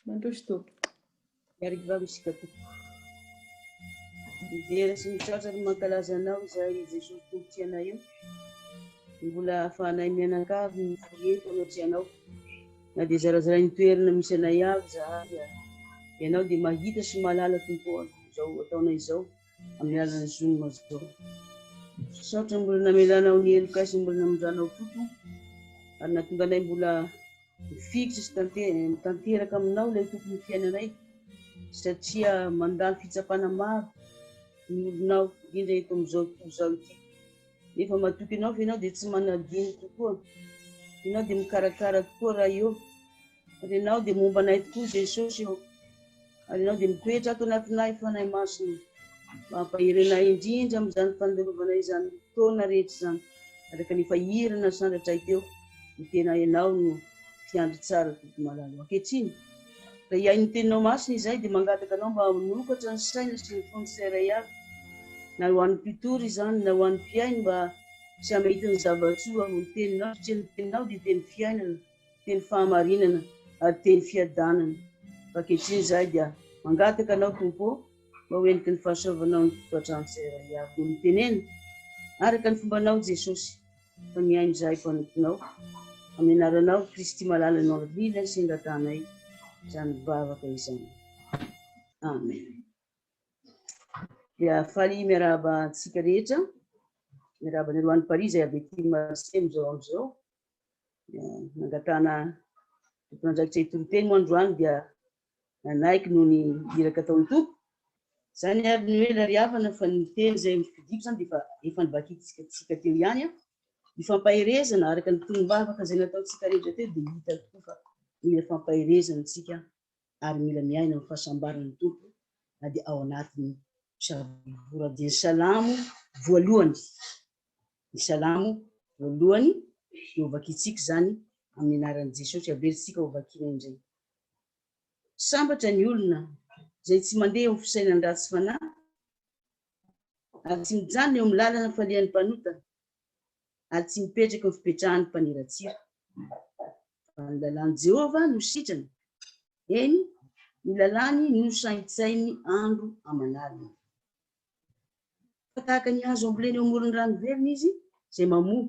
Mandroso Tompo. Miarivava isika Tompo. Midera sy misaotra ny mankalaza anao izahay i Jesosy Tompo tsy anay io. Mbola ahafahanay mianakavy ny folie tao tsy anao. Na dia zarazarain ny toerana misy anay avy izahay dia ianao dia mahita sy mahalala Tompo izao ataonay izao. amin'ny alalan'ny zoom mazao. Misaotra mbola namelanao ny helokay sy mbola namindranao koa tompo ary nahatonga anay mbola mifikitra sy tanteraka aminao ilay tompo ny fiainanay satria mandalo fitsapana maro ny olonao indrindra eto amin'izao tontolo izao ity nefa matoky anao fa ianao dia tsy manadino tokoa ianao dia mikarakara tokoa raha eo Ary Ianao dia momba anay tokoa, Jesosy ô, ary Ianao dia mitoetra ato anatinay, Fanahy Masina. Mampahery anay indrindra amin'izany fandalovana izany fotoana rehetra izany, araka ny efa hira nasandratray teo, Ny tena Ianao no Mpiandry tsara, Tompo malala. Ankehitriny, raha hihaino ny Teninao Masina izahay, dia mangataka Anao mba hanokatra ny saina sy ny fon'ny tsirairay avy, na ho an'ny mpitory izany, na ho an'ny mpihaino, mba samy hahita ny zava-tsoa ao amin'ny Teninao, satria ny Teninao dia Teny fiainana. Teny fahamarinana ary teny fiadanana. Fa ankehitriny izahay dia mangataka Anao, Tompo ô, mba ho entiky ny fahasoavanao ny tokantrano izay iray avy dia mitenena araka ny fombanao, Jesosy, fa mihaino izahay mpanomponao. Amin'ny Anaranao, Kristy malala no avrila sy angatanay izany vavaka izany. Amen. Dia faly miarahaba antsika rehetra. Miarahaba an'i Roan'i Paris izay avy aty Marseille amin'izao andro izao. Nangatahana tompon'andraikitra hitoriteny moa androany dia nanaiky noho ny iraka ataon'ny tompo. Izany ary ny hoe ilay ry havana fa ny teny izay nofidiko izany dia efa nivakitsika teo ihany. Ny fampaherezana araka ny tolom-bavaka izay nataontsika rehetra teo dia hita tokoa fa mila fampaherezana isika ary mila miaina amin'ny fahasambaran'ny Tompo na dia ao anatin'ny mpisavorovora dia ny salamo voalohany ny salamo voalohany dia hovakintsika izany amin'ny anaran'i Jesosy averintsika hovakiana indray sambatra ny olona izay tsy mandeha ho fisainan'ny ratsy fanahy ary tsy mijanona eo amin'ny lalana falehan'ny mpanota ary tsy mipetraky ny fipetrahan'ny mpaniratsira. Fa ny lalàn'i Jehovah no sitrany, eny, ny lalàny no saintsainy andro aman'alina. Fa tahaka ny hazo ambolena eo amoron'ny rano velona izy, izay mamoa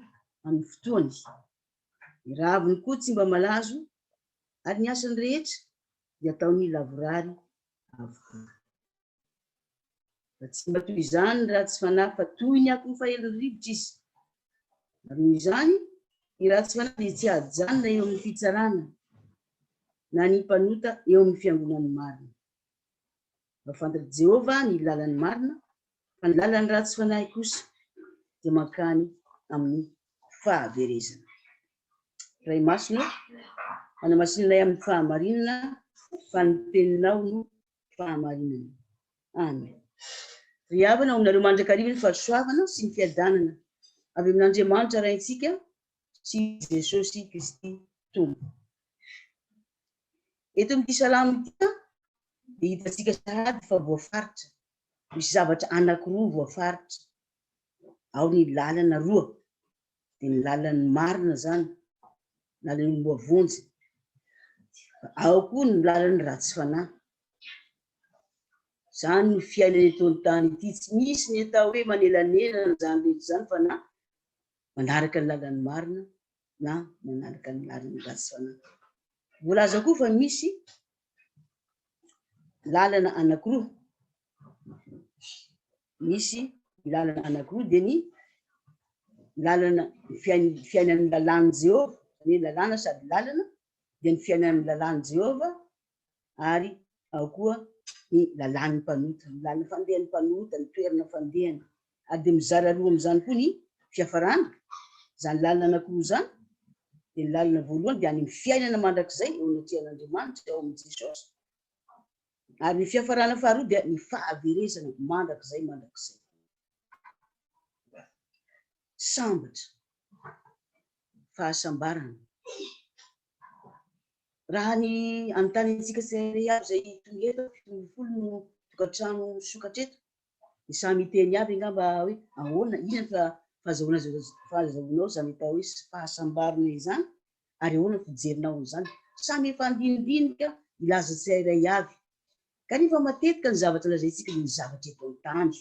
amin'ny fotoany. Ny raviny koa tsy mba malazo, ary ny asany rehetra dia ataony lavorary avokoa. Fa tsy mba toy izany ny ratsy fanahy, fa toy ny akon'ny fahelin'ny rivotra izy. Ary noho izany, ny ratsy fanahy dia tsy hajanona eo amin'ny fitsarana, na ny mpanota eo amin'ny fiangonan'ny marina. Fa fantatr'i Jehovah ny lalan'ny marina, fa ny lalan'ny ratsy fanahy kosa dia mankany amin'ny fahaverezana. Ray masina ô, manamasina anay amin'ny fahamarinana, fa ny Teninao no fahamarinana. Amen. Ry havana, omenareo mandrakariva ny fahasoavana sy ny fiadanana avy amin'Andriamanitra Raintsika sy Jesosy Kristy Tompo. Eto amin'ity salamo ity dia hitantsika sahady fa voafaritra. Misy zavatra anankiroa voafaritra. Ao ny lalana roa. dia ny lalan'ny marina izany na ilay olomboa vonjy. Ao koa ny lalan'ny ratsy fanahy. Izany no fiainana eto an-tany ity. Tsy misy ny atao hoe manelanelana izany rehetra izany fa na manaraka ny lalan'ny marina na manaraka ny lalan'ny ratsy fanahy. Voalaza koa fa misy lalana anankiroa. Misy ny lalana anankiroa dia ny lalana fiainan'ny lalàn'i Jehovah, ny lalàna sady lalana dia ny fiainan'ny lalàn'i Jehovah ary ao koa ny lalàn'ny mpanota, ny lalana fandehan'ny mpanota, ny toerana fandehany, ary dia mizara roa amin'izany koa ny fiafarana, izany lalana anankiroa izany, dia ny lalana voalohany dia any amin'ny fiainana mandrakizay eo anatrehan'Andriamanitra ao amin'i Jesosy, ary ny fiafarana faharoa dia ny fahaverezana mandrakizay mandrakizay. Sambatra, fahasambarana. Raha ny anontany antsika tsirairay avy izay tonga eto, fito ambin'ny folo no tokantrano misokatra eto, dia samy hiteny avy angamba hoe ahoana, inona ny fahazahoana fahazahoanao izany atao hoe fahasambarana izany ary ahoana ny fijerinao an'izany. Samy efa andinidinika hilaza tsirairay avy kanefa matetika ny zavatra lazaintsika dia ny zavatra eto an-tany,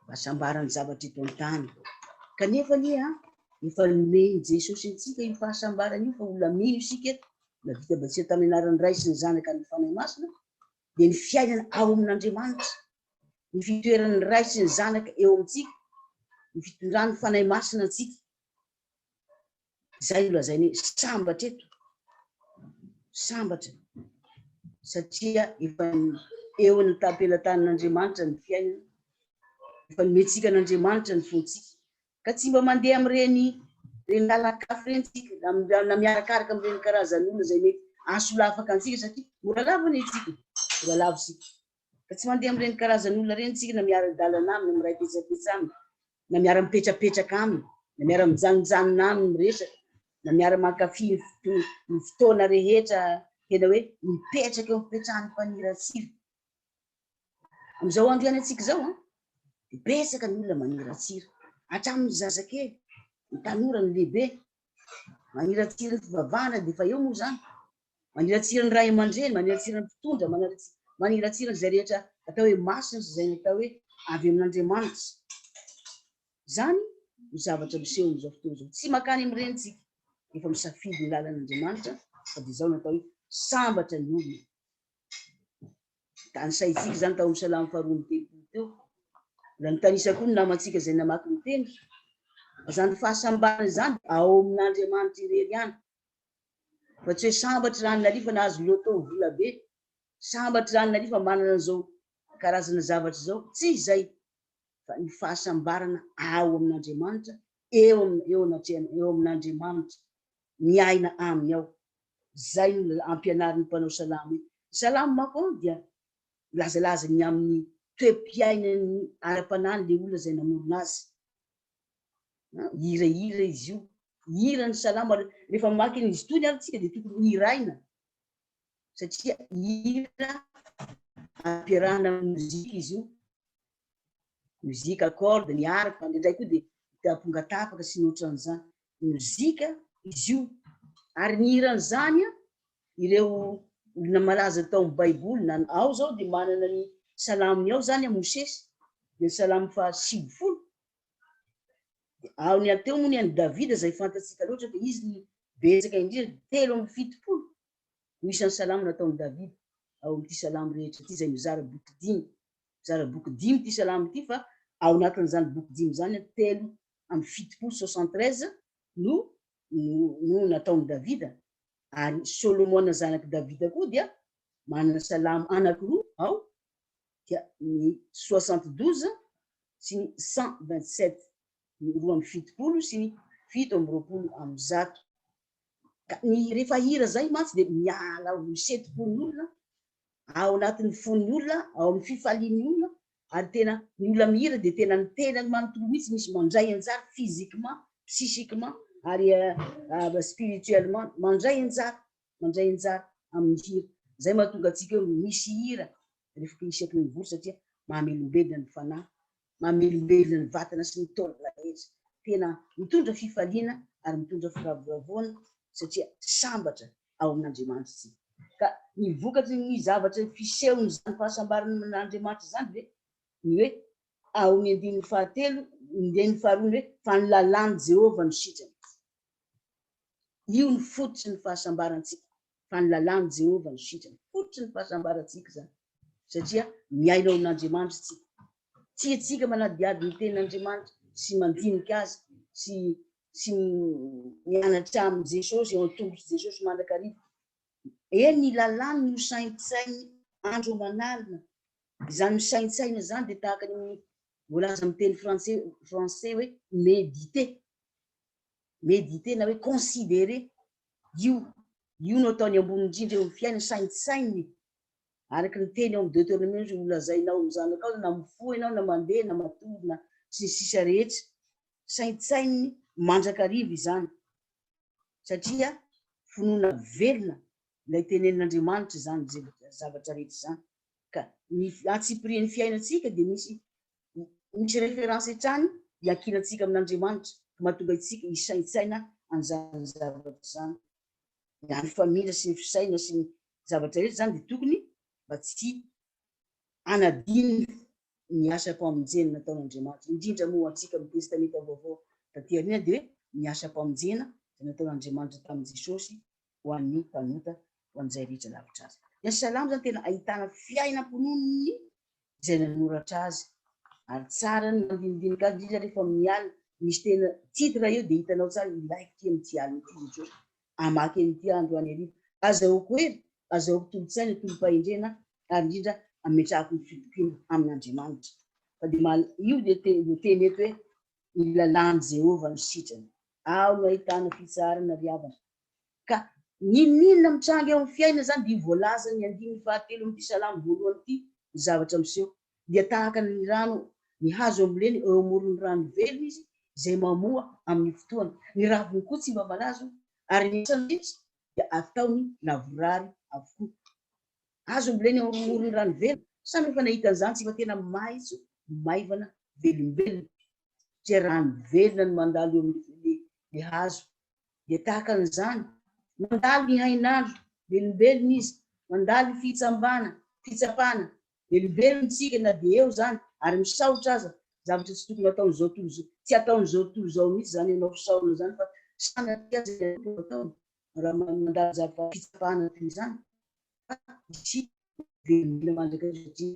fahasambarana ny zavatra eto an-tany kanefa anie efa nomen'i Jesosy antsika io fahasambarana io fa olona mino isika eto na vita batisa tamin'ny anaran'ny Ray sy ny Zanaka ny Fanahy Masina dia ny fiainana ao amin'Andriamanitra, ny fitoeran'ny Ray sy ny Zanaka eo amintsika, ny fitondran'ny Fanahy Masina antsika. Izay no lazainy hoe sambatra eto, sambatra, satria efa eo amin'ny tampelatanan'Andriamanitra ny fiainana, efa nomentsika an'Andriamanitra ny fontsika, Ka tsy mba mandeha amin'ireny ireny lalan-kafa ireny tsika na na miarakaraka amin'ireny karazan'olona izay mety ahasolafaka antsika satria mbola lavo anie tsika mbola lavo isika ka tsy mandeha amin'ireny karazan'olona ireny tsika na miara-dalana aminy na miray petsapetsa aminy na miara-mipetrapetraka aminy na miara-mijanonjanona aminy miresaka na miara-mankafy ny foto- ny fotoana rehetra tena hoe mipetraka eo am-pipetrahan'ny mpaniratsira Amin'izao andro ianantsika izao an, dia betsaka ny olona maniratsira, hatramin'ny zazakely, ny tanora, ny lehibe. Maniratsira ny fivavahana dia efa eo moa izany. Maniratsira ny ray aman-dreny, maniratsira ny mpitondra, maniratsira an'izay rehetra atao hoe masina sy izay natao hoe avy amin'Andriamanitra. Izany no zavatra miseho amin'izao fotoana izao. Tsy makany amin'ireny tsika, efa misafidy ny lalan'Andriamanitra, fa dia izao natao hoe sambatra ny olona. Tanisaintsika izany tao amin'ny Salamo faharoa amby telopolo teo. Mbola nitanisa koa ny namantsika izay namaky ny Teny fa izany fahasambarana izany dia ao amin'Andriamanitra irery ihany, fa tsy hoe sambatry raha ny Nalifa nahazo loto vola be, sambatry raha ny Nalifa manana an'izao karazana zavatra izao, tsy izay, fa ny fahasambarana ao amin'Andriamanitra, eo eo anatrehan, eo amin'Andriamanitra, miaina Aminy ao. Izay no ampianarin'ny mpanao salamo hoe, Ny salamo manko dia milazalaza ny amin'ny toe-piainany ara-panahy an'ilay olona izay namorona azy. Hirahira izy io. Hihira ny salamo ary rehefa mamaky an'izy itony ary isika dia tokony hohiraina satria hira ampiarahana amin'ny mozika izy io. Mozika, corde, ny harpe, indraindray koa dia ampongatapaka sy ny ohatran'izany. mozika izy io, ary nihira an'izany ireo olona malaza tao amin'ny Baiboly. Na ao izao dia manana ny Salaminy ao izany Mosesy, dia ny Salamo fahasivifolo. Dia ao ny any teo moa ny an'i Davida izay fantatsika loatra fa izy no betsaka indrindra, telo amby fitopolo no isan'ny Salamo nataon'i Davida ao amin'ity Salamo rehetra ity izay mizara boky dimy. Mizara boky dimy ity Salamo ity fa ao anatin'izany boky dimy izany telo amin'ny fitopolo soixante treize no no nataon'i Davida, ary Solomona zanak'i Davida koa dia manana salamo anankiroa ao, dia ny soixante douze sy ny cent vingt sept, ny roa amby fitopolo sy ny fito amby roapolo amin'ny zato. Ka ny rehefa hira izay mantsy dia miala ho setim-pon'olona ao anatin'ny fon'ny olona, ao amin'ny fifalian'ny olona, ary tena ny olona mihira dia tena ny tenany manontolo mihitsy misy mandray anjara physiquement, psychiquement ary spirituellement mandray anjara, mandray anjara amin'ny hira, izay mahatonga antsika hoe misy hira rehefa isaky ny mivory satria mahamelombelona ny fanahy, Mamelombelona ny vatana sy ny taolana rehetra. Tena mitondra fifaliana ary mitondra firavoravoana satria sambatra ao amin'Andriamanitra isika. Ka ny vokatry ny zavatra fisehon'izany fahasambaran'Andriamanitra izany ve ny hoe ao amin'ny andininy fahatelo, andininy faharoa ny hoe fa ny lalàn'i Jehovah no sitrana. Io no fototry ny fahasambarantsika. fa ny lalàn'i Jehovah no sitrana. Fototry ny fahasambarantsika izany, satria miaina ao amin'Andriamanitra isika. Tiantsika manadihady ny Tenin'Andriamanitra sy mandinika azy sy sy mianatra amin'i Jesosy, eo an-tongotr'i Jesosy mandrakariva. Eny, ny lalàny no saintsainy andro aman'alina. Izany misaintsaina izany dia tahaka ny amin'ny voalaza amin'ny teny frantsay frantsay hoe méditer. Méditer na hoe considerer, io, io no ataony ambony indrindra eo amin'ny fiainany, saintsaininy, araka ny teny ao amin'ny Deuteronomie hoe holazainao amin'ny zanakao na mifoha ianao na mandeha na matory na sy ny sisa rehetra, saintsaininy mandrakariva izany satria finoana velona ilay tenenin'Andriamanitra izany zavatra rehetra izany ka ny antsipirian'ny fiainantsika dia misy Misy référence hatrany hiankinantsika amin'Andriamanitra ka mahatonga antsika hisaintsaina an'izany zavatra izany. Raha ny famindra sy ny fisainana sy ny zavatra rehetra izany dia tokony mba tsy hanadino ny asam-pamonjena nataon'Andriamanitra. Indrindra moa ho antsika amin'ny Testamenta Vaovao taty aoriana dia hoe ny asam-pamonjena izay nataon'Andriamanitra tamin'i Jesosy ho an'ny mpanota, ho an'izay rehetra lavitra azy. Ilay salamo izany tena ahitana fiainam-ponon'ny izay nanoratra azy, ary tsara ny mandinidinika azy, indrindra rehefa miala, misy tena titre eo dia hitanao tsara ilaiko ity amin'ity alina ity Jesoa, hamaky an'ity aho androany hariva, azahoako hery, azahoako tolo-tsaina, tolom-pahendrena, ary indrindra ametrahako ny fitokiana amin'Andriamanitra. Fa dia mal, io dia te, no teny eto hoe, Ny lalàn'i Jehovah no sitrana. Ao no ahitana fitsaharana ry havana, Ka n'inon'inona mitranga eo amin'ny fiainana izany dia io voalazan'ny andininy fahatelo amin'ity salamo voalohany ity ny zavatra miseho. Dia tahaka ny rano ny hazo amboleny eo amoron'ny rano velona izy izay mamoa amin'ny fotoany. Ny raviny koa tsy mba malazo ary ny asany rehetra dia ataony lavorary avokoa. Hazo amboleny eo amoron'ny rano velona, sa no efa nahita an'izany tsy efa tena maitso, maivana, velombelona satria rano velona no mandalo eo amin'ilay hazo dia tahaka an'izany, mandalo ny hain'Alla, velombelona Izy, mandalo ny fihitsambana, fitsapana, velombelona isika na dia eo izany ary misaotra aza, zavatra tsy tokony ataon'izao tontolo izao, tsy ataon'izao tontolo izao mihitsy izany ianao fisaorana izany fa sanatria aza ilay Tompo no ataony raha mandalo zavatra fitsapana toy izany, velomena mandrakizay satria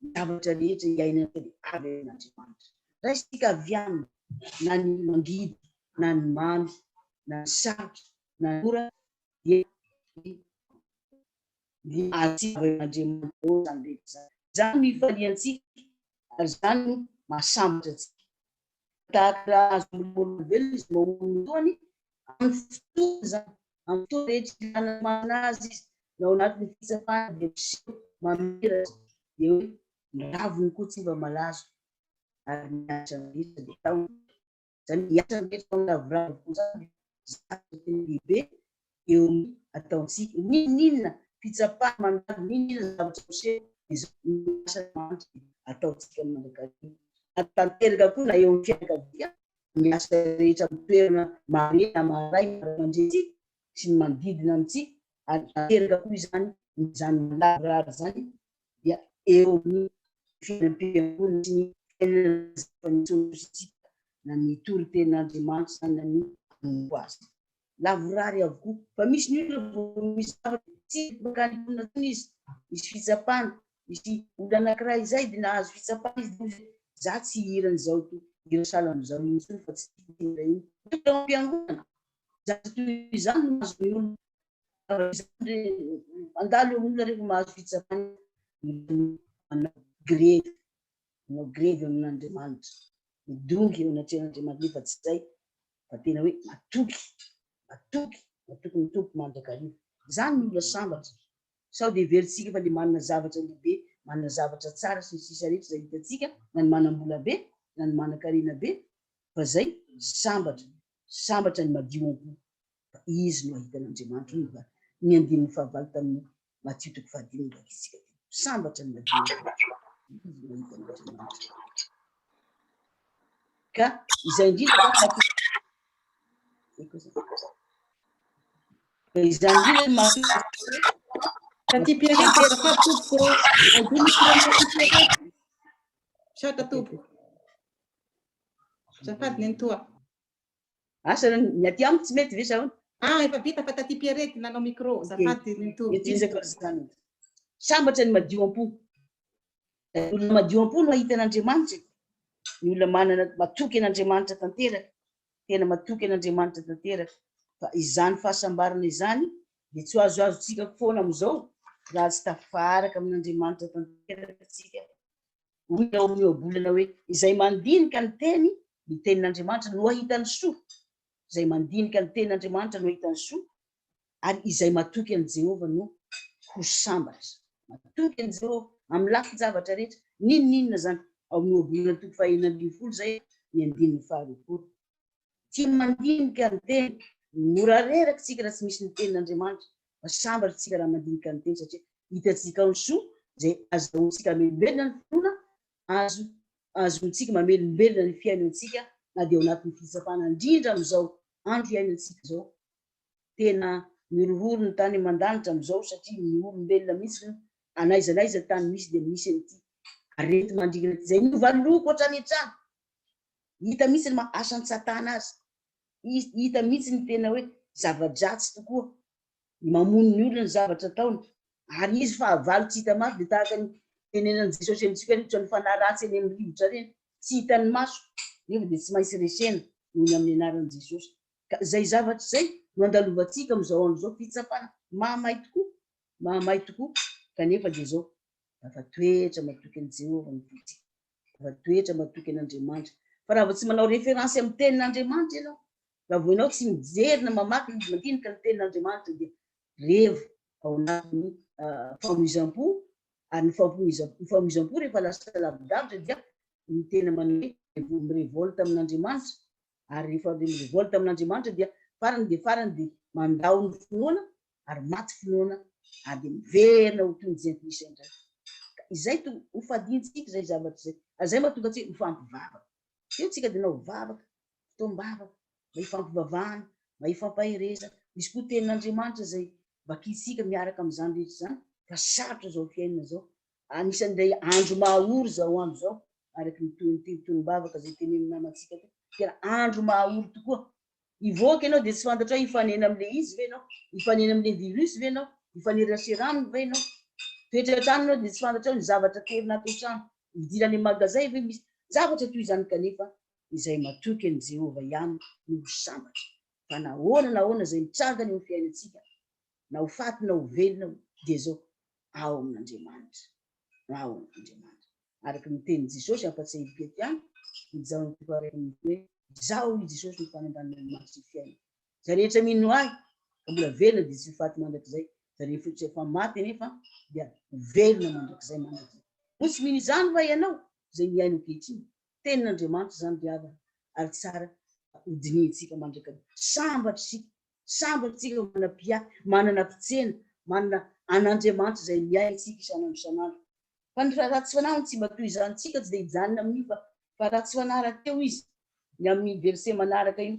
ny zavatra rehetra iainantsika dia avy amin'Andriamanitra. Raisintsika avy aminy na ny mangidy na ny mamy na ny sarotra na ny ora dia ny azontsika avy amin'Andriamanitra daholo izany rehetra izany. Izany no ifaliantsika ary izany no mahasambatra antsika. Tahaka ny raha azon'ny molombelona izay mamono ny toany amin'ny fotoana izany Amin'ny fotoana rehetra ilana ny manana azy izy, na ao anatin'ny fitsapana dia miseho mamiratra, dia hoe ny raviny koa tsy mba malazo, ary ny ahitra rehetra dia taona. Izany hoe ny ahitra rehetra ao amin'ny ravoravo koa izany dia zavatra tena lehibe eo amin'ny ataontsika. N'inon'inona fitsapana mandalo, n'inon'inona zavatra miseho, dia izao no asan'Andriamanitra dia ataontsika mandrakariva, ary tanteraka koa na eo amin'ny fianakaviana ny asa rehetra amin'ny toerana mahamenatra aman-drainy ray aman-drenintsika sy ny manodidina antsika ary tanteraka koa izany izany lavorary izany dia eo amin'ny fiainam-piangonana sy ny fiainana zava-niseho sy tsika na ny toriteny Andriamanitra na ny hanompo azy. lavorary avokoa fa misy ny olona vao misy zavatra tsy mankany am-ponina intsony izy, misy fitsapana, misy olona anankiray izay dia nahazo fitsapana izy dia hoy izy hoe za tsy hihira an'izao ity hira salan'izao iny intsony fa tsy tiako ity hira iny. Hoy ireo am-piangonana, zavatra toy izany no mahazo ny olona, zavatra izany re mandalo eo amin'ny olona rehefa mahazo fitsapana izy, manao grevy, manao grevy amin'Andriamanitra, midongy eo anatrehan'Andriamanitra nefa tsy izay fa tena hoe matoky, matoky, matoky ny Tompo mandrakariva. Izany no mila sambatra. Sao dia heverintsika fa dia manana zavatra lehibe, manana zavatra tsara sy ny sisa rehetra izay hitantsika, na ny manam-bola be, na ny manan-karena be, fa izay sambatra, sambatra ny madio am-po, fa Izy no hahita an'Andriamanitra, hoy ny andininy fahavalo tamin'ny Matio toko fahadimy no vakintsika teo. Sambatra ny ka izay indrindra izany indrindra Tati Pierre Pierre tompoko adiny Pierre Pierre tompoko Zafady nenitoa Asa ny aty amiko tsy mety ve sa ahoana? Ah efa vita fa taty Pierrette nanao micro, azafady ry Nto. Ezaka ry zanany. Sambatra ny madio am-po. Ny olona madio am-po no hahita an'Andriamanitra e. Ny olona manana matoky an'Andriamanitra tanteraka, tena matoky an'Andriamanitra tanteraka. Fa izany fahasambarana izany dia tsy ho azoazontsika foana amin'izao raha tsy tafaraka amin'Andriamanitra tanteraka isika Hoy ny ao amin'ny Ohabolana hoe, Izay mandinika ny teny, ny tenin'Andriamanitra, no hahita ny soa. Izay mandinika ny tenin'Andriamanitra no hahita ny soa, ary izay matoky an'i Jehovah no ho sambatra. Matoky an'i Jehovah amin'ny lafin-javatra rehetra. N'inon'inona izany. Ao amin'ny Ohabolana toko fahenina ambin'ny folo izay, ny andininy faharoapolo. Tsy mandinika ny teny. Mora reraka isika raha tsy misy ny Tenin'Andriamanitra, fa sambatra isika raha mandinika ny teny, satria hitantsika ao ny soa izay azahoantsika hamelombelona ny finoana, azo azahoantsika mamelombelona ny fiainantsika na dia ao anatin'ny fitsapana, indrindra amin'izao andro iainantsika izao. Tena mihorohoro ny tany aman-danitra amin'izao, satria ny olombelona mihitsy no an'aiza n'aiza tany misy dia misy an'ity areti-mandringana ity, izay novaloriko hatrany an-trano Hita mihitsy ny maha asan'i Satana azy. Hita mihitsy ny tena hoe zava-dratsy tokoa ny mamono ny olona, ny zavatra ataony. Ary izy fahavalo tsy hita maso dia tahaka ny tenenan'i Jesosy amintsika hoe ohatran'ny fanahy ratsy eny amin'ny rivotra ireny, tsy hitan'ny maso nefa dia tsy maintsy resena noho ny amin'ny anaran'i Jesosy. Ka izay zavatra izay no andalovantsika amin'izao andro izao, fitsapana mahamay tokoa, mahamay tokoa, kanefa dia izao, tafatoetra matoky an'i Jehovah ny vontsika. Raha toetra matoky an'Andriamanitra. Fa raha vao tsy manao référence amin'ny tenin'Andriamanitra ianao, raha vao ianao tsy mijery na mamaky na mandinika ny tenin'Andriamanitra dia revo ao anatin'ny famoizam-po, ary ny famoizam-po rehefa lasa lavidavitra dia ny tena manome mirevolte amin'Andriamanitra, ary rehefa mirevolte amin'Andriamanitra dia farany dia farany dia mandao ny finoana ary maty finoana ary dia miverina ho toy ny jentilisa indray. Ka izay to ho fadiantsika izay zavatra izay, ary izay mahatonga antsika mifampivavaka. Teo tsika dia nanao vavaka, fotoam-bavaka, mba hifampivavahana, mba hifampaherezana. Misy koa tenin'Andriamanitra izay vakintsika miaraka amin'izany rehetra izany, fa sarotra izao fiainana izao. Anisan'ilay andro maha-ory izao andro izao, araka ny tohin'ity fotoam-bavaka izay tenenin'ny namantsika ity. Tena andro maha-ory tokoa, Hivoaka ianao dia tsy fantatra hoe hifanena amin'ilay izy ve ianao? Hifanena amin'ilay virus ve ianao? Hifanerasera aminy ve ianao? Toetra eo an-trano ianao dia tsy fantatrao ny zavatra aterina ato an-trano. Hividiana any amin'ny magazay ve misy zavatra toy izany kanefa izay matoky an'i Jehovah ihany no ho sambatra. Fa na ahoana na ahoana izay mitranga any amin'ny fiainantsika, na ho faty na ho velona, dia izao, Ao amin'Andriamanitra. Ao amin'Andriamanitra. Araka ny tenin'i Jesosy, ampatsiahin'i Petr ihany, Izaho no tompo araka ny nofy hoe, Izaho i Jesosy no fanambanina ny maty sy ny fiainana. Izay rehetra mino Ahy, ka mbola velona dia tsy ho faty mandrakizay, izay rehefotra efa maty anefa dia ho velona mandrakizay mandrakizay. Moa tsy mino izany va ianao, izay mihaino ankehitriny? Tenin'Andriamanitra izany ry havana, ary tsara ka hodinihintsika mandrakariva. Sambatra isika Sambatra antsika fa manana Mpiahy, manana Mpitsena, manana an'Andriamanitra izay miahy antsika isan'andro isan'andro. Fa ny raha ratsy fanahy hono tsy mba toy izany, tsika tsy dia hijanona amin'io fa fa ratsy fanahy rahateo izy, ny amin'ny verset manaraka io.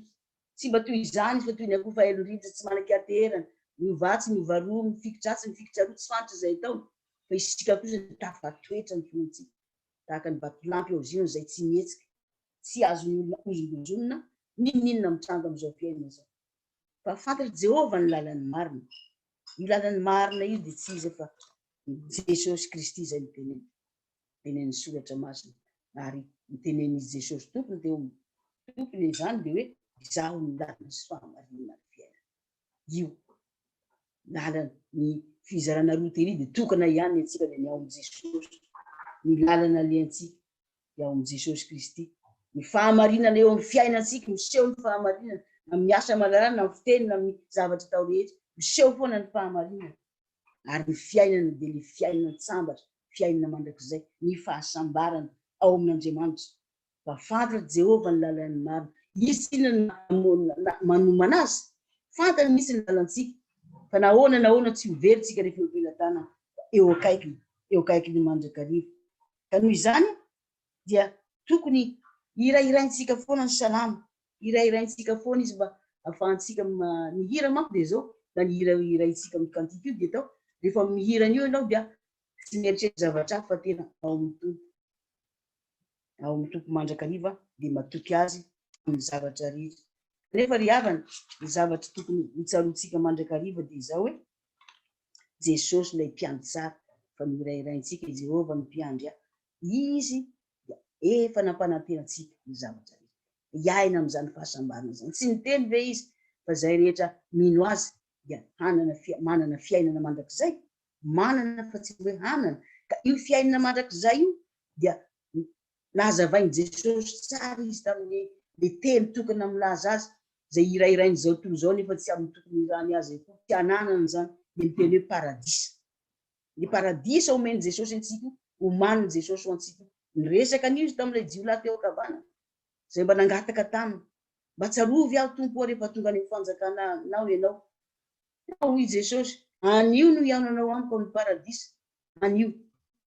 Tsy mba toy izany izy fa toy ny akoho fahelon-drivotra tsy manan-kianteherana, miovà tsy miovà roa, mifikitra atsy mifikitra aroa tsy fantatra izay ataony, fa isika kosa dia tafatoetra ny finoantsika tahaka ny vatolampy ao Ziona izay tsy mihetsika. tsy azon'ny olona hozongozonina n'inon'inona mitranga amin'izao mpihaino izao. Fa fantatr'i Jehovah ny lalan'ny marina. Io lalan'ny marina io dia tsy iza fa i Jesosy Kristy izay noteneniny. Notenenin'ny Soratra Masina, ary notenenin'izy Jesosy Tompony teo amin'ny Tompony izany dia hoe, Izaho no lalana sy fahamarinana ary fiainana. Io lalan'ny fizarana roa tery dia tokana ihany ny antsika dia ny ao amin'i Jesosy, ny lalana alehantsika dia ao amin'i Jesosy Kristy. Ny fahamarinana eo amin'ny fiainantsika, miseho ny fahamarinana, na amin'ny asa aman-draharaha, na amin'ny fiteny, na amin'ny zavatra atao rehetra, miseho foana ny fahamarinana. Ary ny fiainana dia ilay fiainana an-tsambatra, fiainana mandrakizay, ny fahasambarana ao amin'Andriamanitra. Fa fantatr'i Jehovah ny lalàn'ny marina. Izy tsy inona na manomana azy. Fantany mihitsy ny lalantsika. Fa na ahoana na ahoana, tsy ho very isika rehefa eo am-pelatanana, fa eo akaikiny, eo akaikin'ny mandrakariva. Ka noho izany dia tokony hirahiraintsika foana ny salamo, hirahiraintsika foana izy mba afahantsika ny hira manko dia zao na ny hira hiraintsika amin'ny cantique io dia tao rehefa mihira an'io ianao dia tsy mieritreritra zavatra hafa fa tena ao amin'ny Tompo, ao amin'ny Tompo mandrakariva dia matoky Azy amin'ny zavatra rehetra. Nefa ry havana, ny zavatra tokony hotsaroantsika mandrakariva dia izao hoe Jesosy ilay Mpiandry tsara, fa nohirahiraintsika i Jehovah no Mpiandry ahy. Izy dia efa nampanantena antsika ny zavatra rehetra. Hiaina amin'izany fahasambarana izany. Tsy niteny ve Izy fa izay rehetra mino Azy dia hanana fia, manana fiainana mandrakizay? Manana fa tsy hoe hanana. Ka io fiainana mandrakizay io dia Nazavain'i Jesosy tsara izy tamin'ny le teny tokana milaza azy, izay hirahirain'izao tontolo izao nefa tsy amin'ny tokony hirahany azy akory, tsy hananany izany, dia ny teny hoe paradisa. Ny paradisa omen'i Jesosy antsika, omanin'i Jesosy ho antsika. Niresaka an'io izy tamin'ilay jiolahy teo an-kavanana, izay mba nangataka taminy, Mba tsarovy aho, Tompo ô, rehefa tonga any amin'ny fanjakanao ianao. Hoy i Jesosy, Anio no hihaonanao amiko ao amin'ny paradisa. anio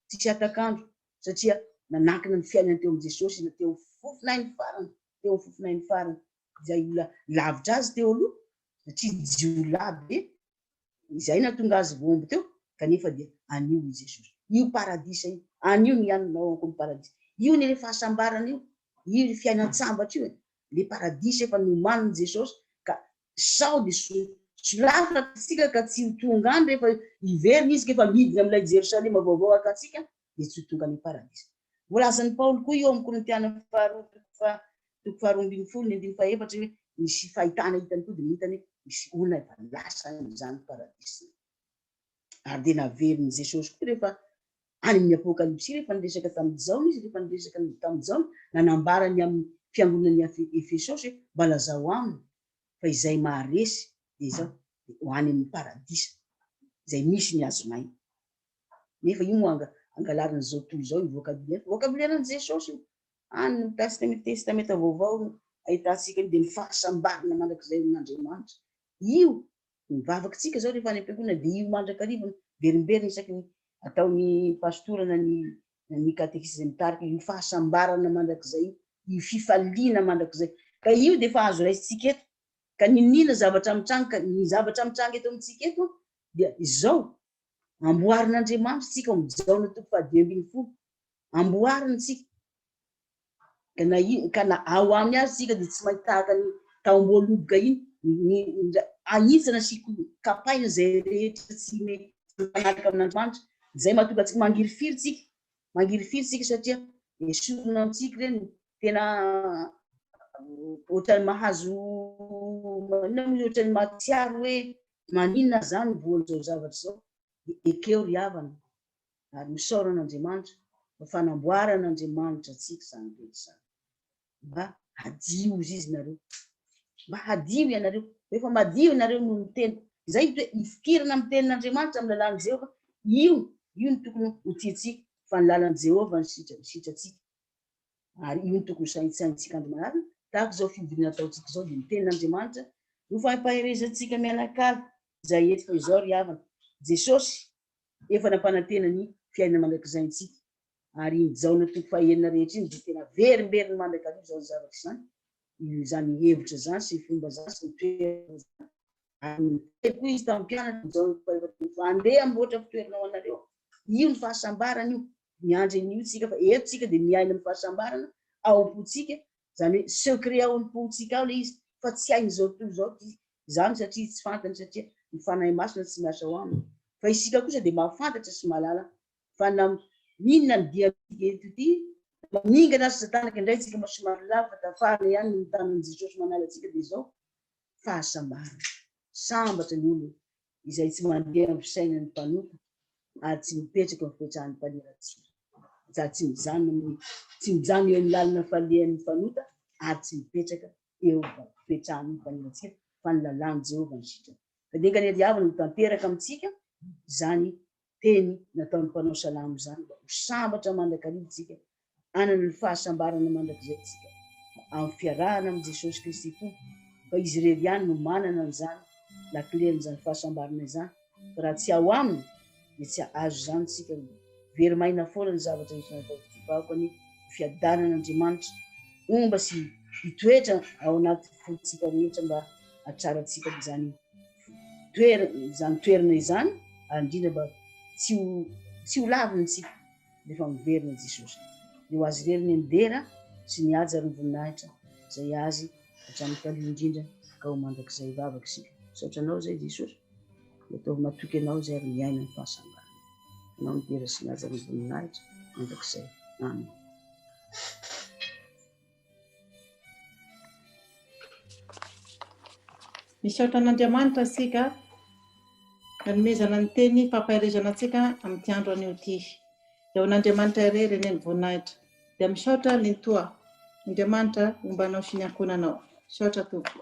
tsisy hatak'andro satria nanankina ny fiainany teo amin'i Jesosy na teo amin'ny fofon'ainy farany, teo amin'ny fofon'ainy farany izay olona lavitra azy teo aloha satria jiolahy be izay nahatonga azy voaomby teo kanefa dia anio i Jesosy. Io paradisa io, anio ny anona ao amiko ny paradisa. Io ny le fahasambarana io, io le fiainan-tsambatra io e, le paradisa efa nomanin'i Jesosy ka Sao ny soa. Solafo ratsitsika ka tsy ho tonga any rehefa hiverina izy ka efa midina amin'ilay Jerosalema vaovao hakantsika dia tsy ho tonga any am-paradisa. Voalazan'i Paoly koa io ao amin'ny Korintiana faharoa toko faha toko faharoa ambin'ny folo ny andininy fahefatra hoe misy fahitana hitany koa dia ny hitany hoe misy olona efa lasa any izany paradisa izany. ary dia naverin'i Jesosy koa rehefa any amin'ny Apokalypsy rehefa niresaka tamin'i Jaona izy, rehefa niresaka tamin'i Jaona, nanambara ny amin'ny fiangonan'i Efesosy hoe mba lazao aminy fa izay maharesy dia izao dia ho any amin'ny paradisa izay misy ny hazonaina. Nefa io moa anga angalarina izao tontolo izao io vocabulaire, vocabulaire an'i Jesosy io. Any ny tasika amin'ny Testamenta Vaovao no ahitantsika io dia ny fahasambarana mandrakizay amin'Andriamanitra. Io Ny vavakantsika izao rehefa any am-piangonana dia io mandrakariva miverimberina isaky ny ataon'ny pastora na ny na ny katekista izay mitarika io fahasambarana mandrakizay io, io fifaliana mandrakizay. Ka io dia efa azo raisintsika eto. Ka niniana zavatra mitranga, ka ny zavatra mitranga eto amintsika eto dia izao, Amboarin'Andriamanitra isika ao amin'ny Jaona toko fahadimy ambin'ny folo, amboariny isika, Ka na in, ka na ao aminy aza isika dia tsy maintsy tahaka ny tao Amboholoboka iny, ny, ny, anitsana sy kapaina izay rehetra tsy mety mifanaraka amin'Andriamanitra, izay mahatonga antsika mangirifiry isika, mangirifiry isika satria esorina amintsika ireny, tena ohatran'ny mahazo, inona moa, ohatran'ny mahatsiaro hoe maninona izany ny voan'izao zavatra izao, dia ekeo ry havana, ary misaora an'Andriamanitra fa fanamboaran'Andriamanitra antsika izany rehetra izany. Mba hadio hozy izy nareo. Mba hadio ianareo. Rehefa madio ianareo noho ny teny. Izay ny toe ifikirana amin'ny tenin'Andriamanitra amin'ny lalàn'i Jehovah. Io, io no tokony ho tiantsika fa ny lalan'i Jehovah no sitra, sitratsika. Ary io no tokony ho saintsainintsika andro manarina, tahaka izao fivoriana ataontsika izao dia ny tenin'Andriamanitra no fahepaherezantsika mianakalo izay eto fa izao ry havana. Jesosy efa nampanantena ny fiainana mandrakizay antsika. Ary iny Jaona toko fahenina rehetra iny dia tena averimberiny mandrakariva izany zavatra izany, izany hevitra izany sy ny fomba izany sy ny toerana izany. Ary niteny koa izy tamin'ny mpianany, Jaona toko fahefatelo ny fa andeha hamboatra fitoerana ho anareo. Io ny fahasambarana io, miandry an'io tsika fa eto tsika dia miaina amin'ny fahasambarana ao am-pontsika Izany hoe secret ao am-pontsika ao ilay izy fa tsy hain'izao tontolo izao ity izany satria tsy fantany satria ny Fanahy Masina tsy miasa ao aminy. Fa isika kosa dia mahafantatra sy mahalala fa na inona ny diantsika eto ity, na maningana aza tanaka indray isika mba somary lavo fa tafarina ihany ny mitana an'i Jesosy manala antsika dia izao, fahasambarana. Sambatra ny olona izay tsy mandeha amin'ny fisainan'ny mpanompo ary tsy mipetraka amin'ny fitran'ny mpaniratsira, sady tsy mijanona amin'ny tsy mijanona eo amin'ny lalana falehan'ny mpanota ary tsy mipetraka eo amin'ny fitran'ny mpaniratsira, fa ny lalàn'i Jehovah no sitrany. Ka dia enganie ry havana ho tanteraka amintsika izany Teny nataon'ny mpanao salamo izany mba ho sambatra mandrakariva isika, hanana ny fahasambarana mandrakizay isika amin'ny fiarahana amin'i Jesosy Kristy Tompo, fa Izy irery ihany no manana an'izany lakilen'izany fahasambarana izany, ka raha tsy ao Aminy dia tsy hahazo izany isika, no very maina foana ny zavatra rehetra nataon'ity vahoka ny fiadanan'Andriamanitra homba sy hitoetra ao anaty fontsika rehetra mba hatrarantsika an'izany toerana izany toerana izany ary indrindra mba tsy ho tsy ho lavintsika rehefa miverina i Jesosy. Dia ho azy irery ny mbera sy ny haja ary ny voninahitra izay azy hatramin'ny taloha indrindra ka ho mandrakizay vavaka isika. Misaotra anao izay Jesosy dia ataovy matoky anao izay ary miaina ny fahasambarana. Anao ny mbera sy ny haja ary ny voninahitra mandrakizay. Amen. Misaotra an'Andriamanitra isika nanomezana ny teny fampaherezana antsika amin'ity andro anio ity. Dia ho an'Andriamanitra irery anie ny voninahitra. Dia misaotra Nenitoa. Andriamanitra homba anao sy ny ankohonanao. Misaotra Tompoko.